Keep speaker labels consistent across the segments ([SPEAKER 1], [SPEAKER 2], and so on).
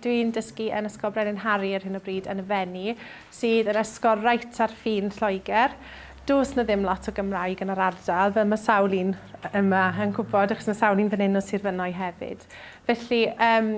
[SPEAKER 1] Dwi'n dysgu yn Ysgol Brenin Harri ar hyn o bryd yn y Fenni, sydd yn ysgol reit ar ffin Lloegr. Does 'na ddim lot o Gymraeg yn yr ardal, fel mae sawl un yma yn gwybod, achos mae sawl un fan hyn o Sir Fynwy hefyd. Felly, yym,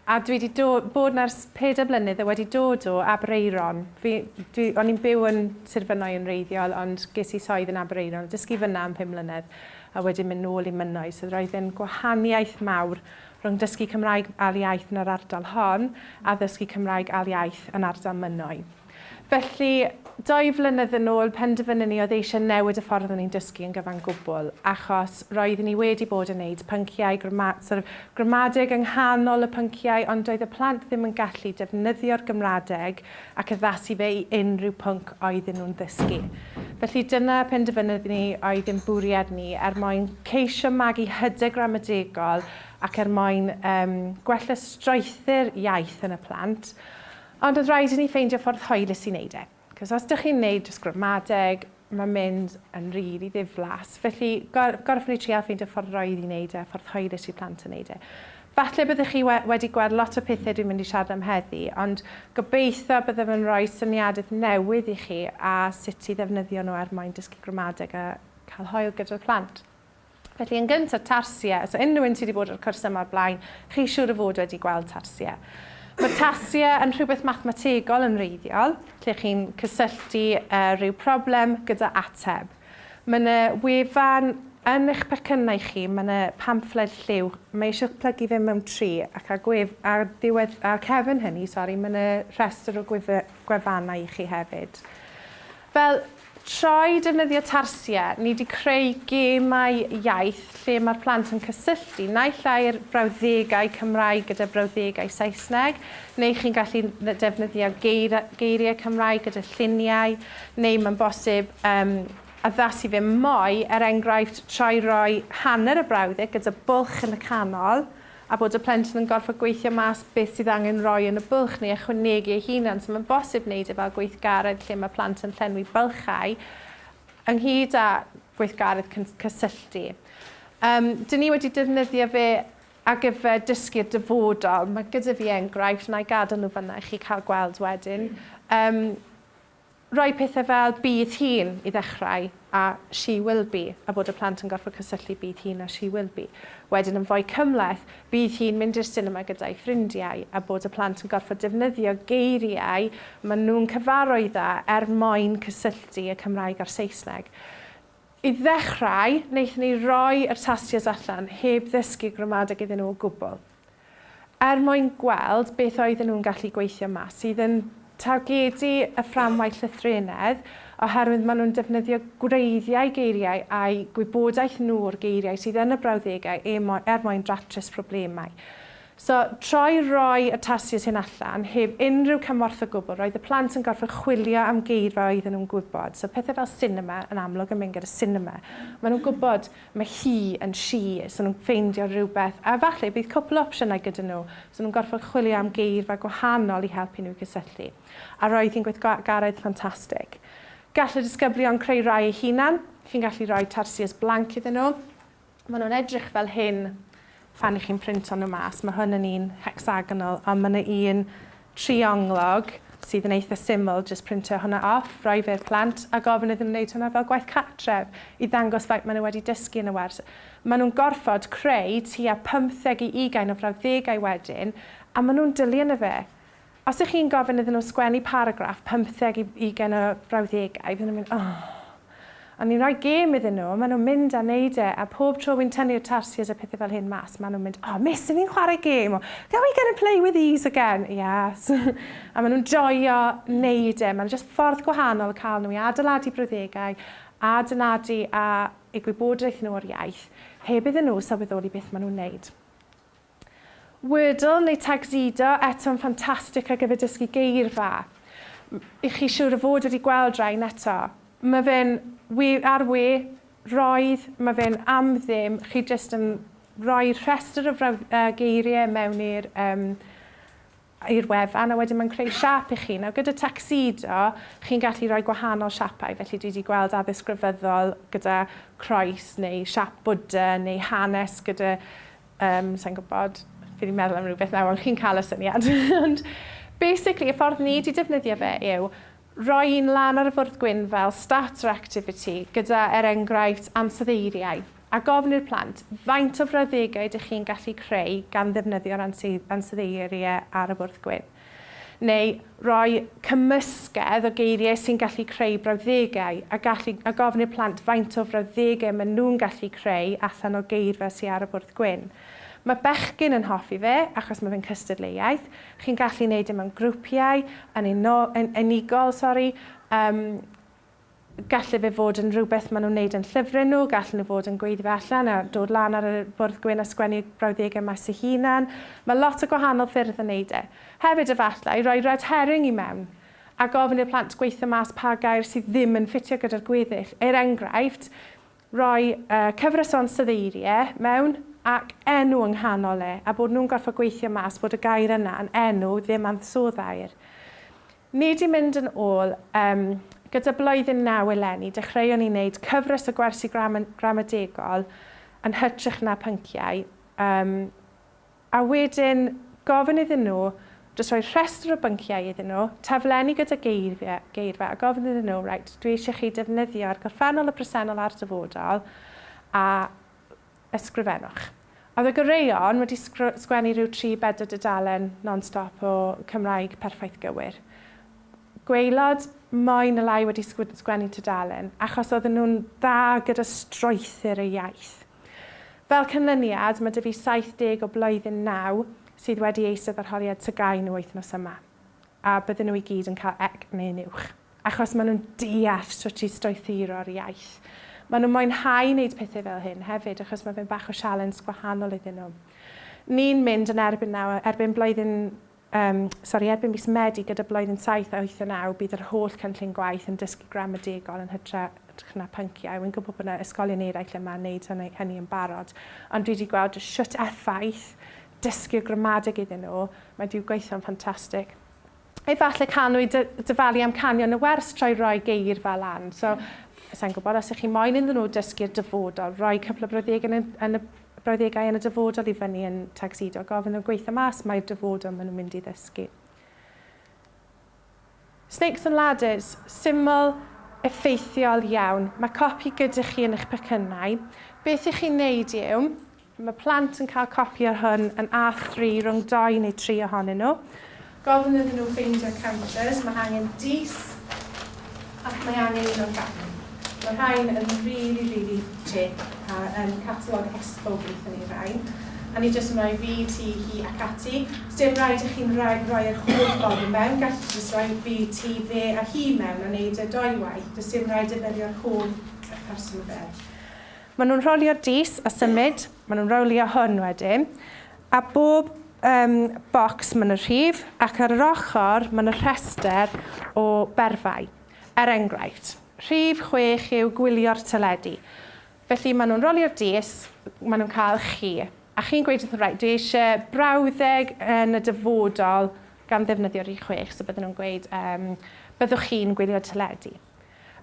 [SPEAKER 1] A dwi 'di do- bod 'na ers pedair mlynedd, a wedi dod o Aberaeron. Fi, dwi, o'n i'n byw yn Sir Fynwy yn wreiddiol, ond ges i swydd yn Aberaeron, a dysgu fan'na am pum mlynedd, a wedyn mynd nôl i Mynwy. So roedd e'n gwahaniaeth mawr rhwng dysgu Cymraeg ail iaith yn yr ardal hon, a ddysgu Cymraeg ail iaith yn ardal Mynwy. Felly, dou flynedd yn ôl, penderfynon ni oedd eisiau newid y ffordd o'n ni'n dysgu yn gyfan gwbl, achos roeddwn ni wedi bod yn neud pynciau grama- sort of, gramadeg yng nghanol y pynciau, ond doedd y plant ddim yn gallu defnyddio'r Gymradeg ac addasu fe i unrhyw pwnc oedden nhw'n ddysgu. Felly, dyna penderfynodd ni oedd ein bwriad ni, er mwyn ceisio magu hyder gramadegol ac er mwyn um, gwella strwythur iaith yn y plant. Ond oedd rhaid i ni ffeindio ffordd hwylus i neud e. Cos os dych chi'n neud jyst gramadeg, mae'n mynd yn rili ddiflas. Felly, gor- gorffen ni trial ffeindio ffordd roydd i neud e, ffordd hwylus i plant yn neud e. Falle byddwch chi we- wedi gweld lot o pethe dwi'n mynd i siarad am heddi, ond gobeithio byddaf yn rhoi syniadeth newydd i chi a sut i ddefnyddio nhw er mwyn dysgu gramadeg a cael hwyl gyda'r plant. Felly yn gyntaf, tarsiau. Os unrhyw un sy wedi bod ar y cwrs yma o'r blaen, chi siŵr o fod wedi gweld tarsiau. Mae tarsiau yn rhywbeth mathemategol yn wreiddiol, lle chi'n cysylltu rhyw problem gyda ateb. Mae yna wefan yn eich pecynnau chi, mae yna pamffled lliw. Mae eisiau plygu fe mewn tri, ac ar gwef, ar ddiwedd, ar cefn hynny, sori, mae yna rhestr o gwefannau i chi hefyd. Fel, trwy defnyddio Tarsia, ni wedi creu gemau iaith lle mae'r plant yn cysylltu naill ai'r brawddegau Cymraeg gyda'r brawddegau Saesneg, neu chi'n gallu defnyddio geir, geiriau Cymraeg gyda lluniau, neu mae'n bosib um, addasu fe mwy, er enghraifft, trwy roi hanner y brawddeg gyda bwlch yn y canol, a bod y plentyn yn gorfod gweithio mas beth sydd angen rhoi yn y bwlch neu ychwanegu ei hunan, so mae'n bosib wneud e fel gweithgaredd lle mae plant yn llenwi bylchau ynghyd â gweithgaredd cysylltu. Um, dyn ni wedi defnyddio fe ar gyfer dysgu'r dyfodol. Mae gyda fi enghraifft, na i gadael nhw fyna i chi cael gweld wedyn. Um, Rhoi pethau fel 'bydd hi'n' i ddechrau a 'she will be' a bod y plant yn gorfod cysylltu 'bydd hi'n' a 'she will be'. Wedyn yn fwy cymhleth, 'bydd hi'n mynd i'r sinema gyda'i ffrindiau' a bod y plant yn gorfod defnyddio geiriau maen nhw'n cyfarwydd â er mwyn cysylltu y Cymraeg a'r Saesneg. I ddechrau, wnaethon ni roi yr tasties allan heb ddysgu gramadeg iddyn nhw o gwbl. er mwyn gweld beth oedden nhw'n gallu gweithio mas, sydd yn targedu y fframwaith llythrennedd oherwydd maen nhw'n defnyddio gwreiddiau geiriau a'u gwybodaeth nhw o'r geiriau sydd yn y brawddegau e mo- er mwyn datrys problemau. So, troi roi y tasys hyn allan, heb unrhyw cymorth o gwbl, roedd y plant yn gorfod chwilio am geirfa oedden nhw'n gwybod. So, pethau fel sinema, yn amlwg yn mynd gyda sinema. Maen nhw'n gwybod Mae hi yn she, so nhw'n ffeindio rhywbeth, a falle bydd cwpl o opsiynau gyda nhw, so nhw'n gorfod chwilio am geirfa gwahanol i helpu nhw i gysylltu. A roedd hi'n gweithgaredd ffantastig. Gall y disgyblion creu rhai eu hunan, chi'n gallu rhoi tarsiers blanc iddyn nhw, maen nhw'n edrych fel hyn, Phan chi'n printo nhw mas, mae hwn yn un hecsagonal, ond mae yna un trionglog sydd yn eitha syml, jyst printio hwnna off, rhoi fe i'r plant, a gofyn iddyn nhw wneud hwnna fel gwaith cartref, i ddangos faint maen nhw wedi dysgu yn y wers. Maen nhw'n gorfod creu tua 15 i ugain o frawddegau wedyn, a maen nhw'n dilyn y fe. Os ych chi'n gofyn iddyn nhw sgwennu paragraff pymtheg i ugain o frawddegau, fydden nhw'n mynd, oh! Ond ni'n rhoi gêm iddyn nhw, maen nhw'n mynd a wneud e, a pob tro wi'n tynnu'r tarsiers a pethau fel hyn mas, maen nhw'n mynd, oh, miss, y'n ni'n chwarae gêm! or, Can we get and play with these again? Yes! a maen nhw'n joio wneud e. Mae'n jyst ffordd gwahanol o cael nhw i adeiladu brawddegau, a adeiladu a eu gwybodaeth nhw o'r iaith, heb iddyn nhw sylweddoli beth maen nhw'n wneud. Wordle neu Tagxedo eto'n ffantastig ar gyfer dysgu geirfa. Y'ch chi siwr o fod wedi gweld rain eto? Ma fe'n we ar we roedd, ma fe'n am ddim, chi jyst yn rhoi rhestr o frawd- yy geirie mewn i'r yym i'r wefan a wedyn mae'n creu siap i chi. Nawr gyda Tuxedo chi'n gallu rhoi gwahanol siapau, felly dwi 'di gweld addysg grefyddol gyda croes neu siap Bwdha neu hanes gyda yym sai'n gwybod, fi 'di meddwl am rywbeth nawr ond chi'n cael y syniad ond basically y ffordd ni 'di defnyddio fe yw roi un lan ar y fwrdd gwyn fel starter activity gyda er enghraifft ansoddeiriau A gofn i'r plant, faint o frawddegau dych chi'n gallu creu gan ddefnyddio'r ansoddeiriau ar y bwrdd gwyn? Neu roi cymysgedd o geiriau sy'n gallu creu brawddegau, a gallu, a gofn i'r plant faint o frawddegau maen nhw'n gallu creu allan o geirfa sy ar y bwrdd gwyn. Mae bechgyn yn hoffi fe, achos mae fe'n cystadleuaeth. Chi'n gallu wneud e mewn grwpiau, yn uno, yn unigol, sori, um, Gallai fe fod yn rhywbeth maen nhw'n wneud yn llyfrau nhw, gallen nhw fod yn gweiddi allan a dod lan ar y bwrdd gwyn a sgwennu brawddegau maes eu hunain. Mae lot o gwahanol ffyrdd o wneud e. Hefyd, efallai, rhoi red herring i mewn a gofyn i'r plant gweithio mas pa gair sydd ddim yn ffitio gyda'r gweddill. Er enghraifft, rhoi cyfres o ansoddeiriau mewn ac enw yng nghanol e a bod nhw'n gorfod gweithio mas bod y gair yna yn enw, ddim ansoddair. Ni 'di mynd yn ôl. Yym, gyda blwyddyn naw eleni, dechreuon ni wneud cyfres o gwersi gram- gramadegol yn hytrach na pynciau. Yym, a wedyn gofyn iddyn nhw, jyst rhoi rhestr o bynciau iddyn nhw, taflenni gyda geirfia- geirfa, a gofyn iddyn nhw, reit, dwi eisiau chi defnyddio ar gorffennol y presennol a'r dyfodol, a Ysgrifennwch. Oedd y goreuon wedi sgwennu rhyw tri bedwar dudalen non-stop o Cymraeg perffaith gywir. Gwaelod mwy na lai wedi sgwennu tudalen, achos oedden nhw'n dda gyda strwythur y iaith. Fel canlyniad, mae 'da fi 70 o blwyddyn naw sydd wedi eistedd arholiad TGAU nhw wythnos yma, a bydden nhw i gyd yn cael ec neu'n uwch. Achos maen nhw'n deall sut i strwythuro'r iaith. Maen nhw'n mwynhau wneud pethau fel hyn hefyd achos mae fe'n bach o sialens gwahanol iddyn nhw. Ni'n mynd yn erbyn nawr, erbyn blwyddyn, um, sori, erbyn mis Medi gyda blwyddyn 7, 8 a 9 bydd yr holl cynllun gwaith yn dysgu gramadegol yn hytrach na pynciau. Wy'n gwybod bod yna ysgolion eraill yma yn wneud hynny, hynny yn barod, ond dwi wedi gweld sut effaith dysgu'r gramadeg iddyn nhw, mae wedi gweithio'n ffantastig. Efallai canwyd dy, dyfalu am canio yn y wers trwy roi geir fel lan. So, sa'n gwybod, os ych chi moyn iddyn nhw dysgu'r dyfodol, rhoi cwpl o brawddegau yn y, yn y brawddegau yn y dyfodol i fyny yn tagsido, gofyn nhw gweithio mas mae'r dyfodol maen nhw'n mynd i ddysgu. Snakes and Ladders, syml, effeithiol iawn. Mae copi gyda chi yn eich pecynnau. Beth i chi'n neud yw, Mae plant yn cael copi o'r hwn yn A3 rhwng dou neu tri ohonyn nhw. Gofyn iddyn nhw ffeindio counters, mae angen dys ac mae angen un o'r gap. Mae rhain yn rili, rili teg a yn catalog esbowg wnaethon ni rai. A ni jyst yn rhoi fi, ti, hi ac ati. Sdim rhaid i chi'n rhoi, rhoi yr holl ffordd i mewn, gallu chi jyst rhoi fi, ti, fe a hi mewn a wneud e dou waith, does dim rhaid defnyddio'r holl person fel. Maen nhw'n rholio'r dys a symud, maen nhw'n rowlio hwn wedyn, a bob um, bocs maen nhw'n rhif, ac ar yr ochr maen nhw'n rhestr o berfau. Er enghraifft, rhif chwech yw gwylio'r teledu. Felly maen nhw'n rolio'r dys, maen nhw'n cael chi, a chi'n gweud wrth nhw, dwi eisiau brawddeg yn y dyfodol gan ddefnyddio rhif chwech, so bydden nhw'n gweud, um, byddwch chi'n gwylio teledu.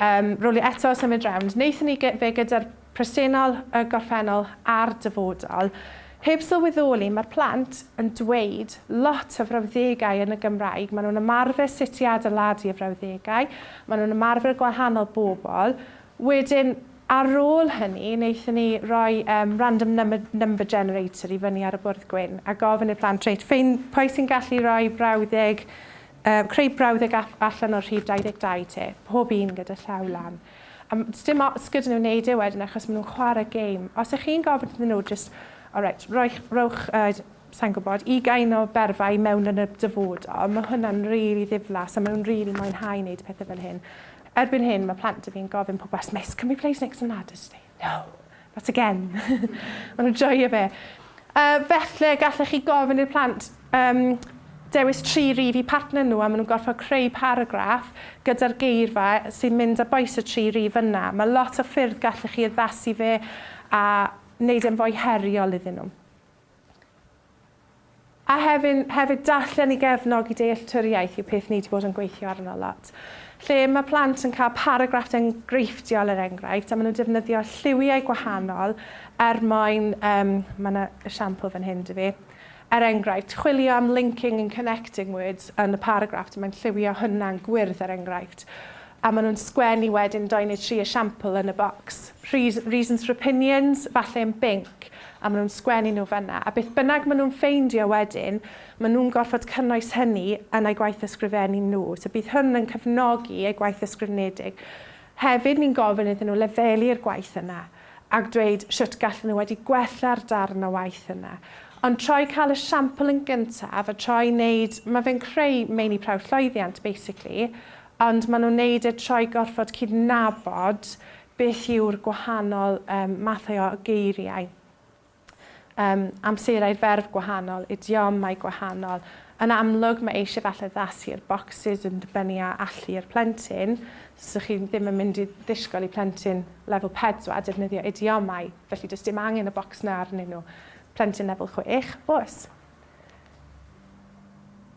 [SPEAKER 1] Yym, rowlio eto, symud rownd. Wnaethon ni gy- fe gyda'r presennol, y gorffennol a'r dyfodol. Heb sylweddoli, mae'r plant yn dweud lot o frawddegau yn y Gymraeg. Maen nhw'n ymarfer sut i adeiladu y frawddegau, maen nhw'n ymarfer gwahanol bobl. Wedyn, ar ôl hynny, wnaethon ni roi um, random number, number generator i fyny ar y bwrdd gwyn a gofyn i'r plant, reit, ffein, pwy sy'n gallu rhoi brawddeg Creu brawddeg ap allan o'r rhif 22 te, pob un gyda llaw lan. A sdim ots gyda nhw wneud e wedyn achos maen nhw'n chwarae gêm. Os ych chi'n gofyn iddyn nhw jyst, o reit, rhowch, sa i'n gwybod, ugain o berfau mewn yn y dyfodol, mae hwnna'n rili ddiflas a maen nhw'n rili mwynhau wneud pethau fel hyn. Erbyn hyn mae plant 'da fi'n gofyn pob wythnos, can we play snakes and ladders today? No, not again. Maen nhw'n joio fe. Uh, felly, gallech chi gofyn i'r plant um, dewis tri rif i partner nhw a maen nhw'n gorfod creu paragraff gyda'r geirfa sy'n mynd â boes y tri rif yna. Mae lot o ffyrdd gallech chi addasu fe a wneud e'n fwy heriol iddyn nhw. A hefyd, hefyd darllen i gefnogi dealltwriaeth yw peth ni 'di bod yn gweithio arno lot. Lle ma' plant yn cael paragraff enghreifftiol er enghraifft, a ma' nhw'n defnyddio lliwiau gwahanol er mwyn, yym, ma' 'na esiampl fan hyn 'da fi, er enghraifft, chwilio am linking and connecting words yn y paragraff, a mae'n lliwio hwnna'n gwyrdd er enghraifft. A ma' nhw'n sgwennu wedyn dou neu tri esiampl yn y bocs. Reasons for opinions, falle yn binc. a maen nhw'n sgwennu nhw fan'na, a beth bynnag maen nhw'n ffeindio wedyn, maen nhw'n gorfod cynnwys hynny yn eu gwaith ysgrifennu nhw. So bydd hwn yn cefnogi eu gwaith ysgrifenedig. Hefyd, ni'n gofyn iddyn nhw lefelu'r gwaith yna a dweud shwt gallen nhw wedi gwella'r darn o waith yna. Ond troi cael y siampl yn gyntaf a troi wneud, mae fe'n creu meini prawf llwyddiant basically, ond maen nhw'n wneud e troi gorfod cydnabod Beth yw'r gwahanol mathau o geiriau? Yym, amserau'r ferf gwahanol, idiomau gwahanol. Yn amlwg, mae eisiau falle addasu'r bocsys yn dibynnu ar allu yr plentyn. So 'sa chi ddim yn mynd i ddisgwyl i plentyn lefel pedwar defnyddio idiomau, felly does dim angen y bocs 'na arnyn nhw. Plentyn lefel chwech, oes.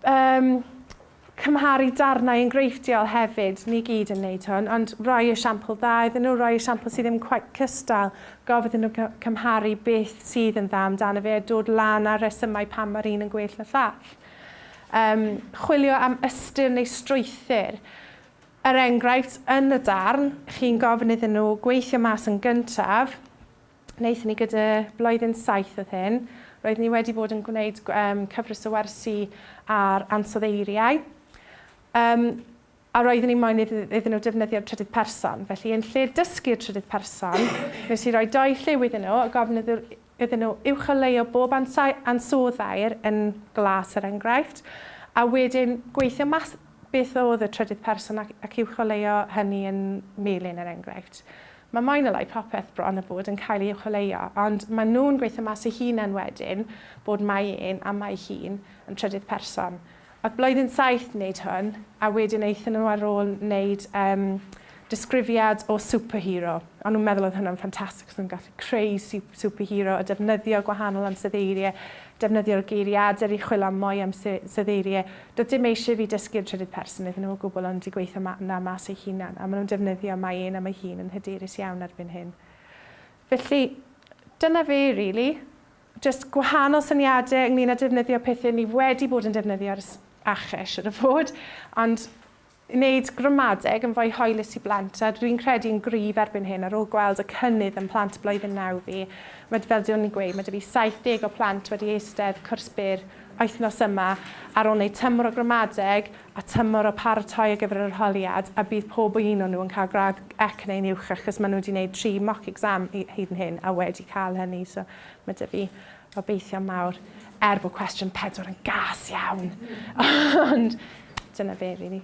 [SPEAKER 1] Yym. Cymharu darnau enghreifftiol hefyd, ni gyd yn wneud hwn, ond rhoi esiampl dda iddyn nhw, rhoi esiampl sydd ddim cweit cystal, gofyn iddyn nhw cymharu beth sydd yn dda amdano fe a dod lan â'r rhesymau pam mae'r un yn gwell na llall. Yym, chwilio am ystyr neu strwythur. Er enghraifft, yn y darn, chi'n gofyn iddyn nhw gweithio mas yn gyntaf, Wnaethon ni gyda blwyddyn saith oedd hyn. Roeddwn ni wedi bod yn gwneud cyfres o wersi ar ansoddeiriau. Um, a roeddwn i'n moyn iddyn nhw defnyddio'r trydydd person. Felly, yn lle dysgu'r trydydd person, nes i roi doi lliw iddyn nhw a gofyn iddyn nhw uwcholeuo bob ansoddair yn glas yr er enghraifft, a wedyn gweithio mas beth oedd y trydydd person ac, ac uwcholeuo hynny yn melin yr er enghraifft. Mae mwy na lai popeth bron a bod yn cael ei chwilio, ond maen nhw'n gweithio mas eu hunain wedyn bod Mae E'n a Mae Hi'n yn trydydd person. Oedd blwyddyn saith wneud hwn, a wedyn aethon nhw ar ôl wneud um, disgrifiad o superhero. O'n nhw'n meddwl oedd hwnna'n ffantastig, achos nhw'n gallu creu superhero a defnyddio gwahanol ansoddeiriau Defnyddio'r geiriadur i chwilo am mwy am Sudheirie. Doedd dim eisiau i fi dysgu'r trydydd person iddyn nhw o gwbl ond i gweithio 'na mas ei hunan, a maen nhw'n defnyddio mae un am ei hun yn hyderus iawn erbyn hyn. Felly, dyna fe rili. Jyst gwahanol syniadau ynglŷn â defnyddio pethau ni wedi bod yn defnyddio ar y ACHES, siŵr o fod, ond Wneud gramadeg yn fwy hoelus i blant a dwi'n credu yn gryf erbyn hyn ar ôl gweld y cynnydd ym mhlant blwyddyn naw fi, mae d- fel dw i'n gweud, mae 'da fi 70 o plant wedi eistedd cwrs byr wythnos yma ar ôl wneud tymor o gramadeg a tymor o paratoi ar gyfer yr arholiad a bydd pob un o nhw yn cael gradd ec neu'n uwch achos maen nhw wedi wneud tri mock exam hyd yn hyn a wedi cael hynny so mae 'da fi Obeithion mawr, er bod cwestiwn pedwar yn gas iawn. Ond dyna fe, really.